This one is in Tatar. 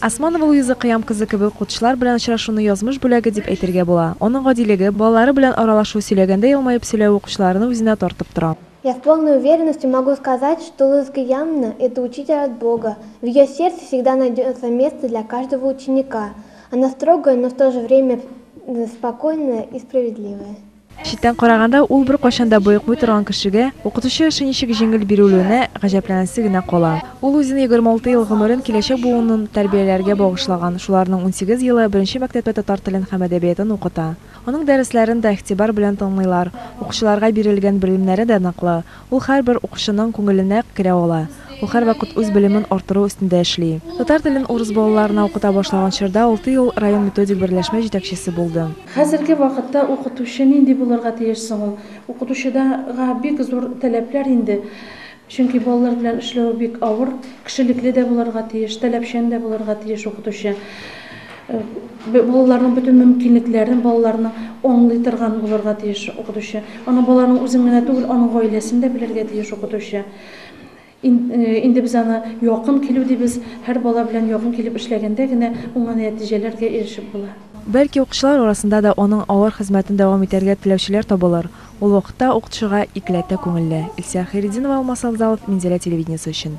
Османова Луиза Кыям кызы кебек укытучылар белән очрашуны язмыш бүләге дип әйтергә була. Аның гадилеге, балалары белән аралашу, сөйләгәндә елмаеп сөйләве укучыларны үзенә тартып тора. Я с полной уверенностью могу сказать, что Луиза Кыямна, это учитель от Бога, в ее сердце всегда найдется место для каждого ученика. Она строгая, но в то же время спокойная и справедливая. Читтән караганда, ул беркайчан да боекмый торган кешегә укытучы эше ничек җиңел бирелүенә гаҗәпләнәсе генә кала. Ул үзенең егерме алты ел гомерен киләчәк буынын тәрбияләргә багышлаган, шуларның унсигез елы беренче мәктәптә татар телен һәм әдәбиятын укыта. Аның дәресләрен дә игътибар белән тыңлыйлар, укучыларга бирелгән белемнәре дә ныклы, Ул һәрбер укучының күңеленә керә ала, ул һәрвакыт үз белемен арттыру өстендә эшли. Татар телен урыс балаларына укыта башлаган чорда алты ел район методик берләшмә җитәкчесе булды. Хәзерге вакытта укытучы нинди булырга тиеш соң ул? Укытучыга бик зур таләпләр инде, чөнки балалар белән эшләве бик авыр. Кешелекле дә булырга тиеш, таләпчән дә булырга тиеш укытучы. Балаларның бөтен мөмкинлекләрен балаларының аңлый торган булырга тиеш укытучы. Аның балаларның үзен генә түгел, аның гаиләсен дә белергә тиеш укытучы. Инде без аны якын килү дибез, һәр бала белән якын килеп эшләгәндә генә уңай нәтиҗәләргә ирешеп була. Бәлки укытучылар арасында да аның авыр хезмәтен дәвам итәргә теләүчеләр табылыр, ул вакытта укытучыга икеләтә күңелле. Илсөя Хәйретдинова, Алмас Авзалов, Минзәлә телевидениесе өчен.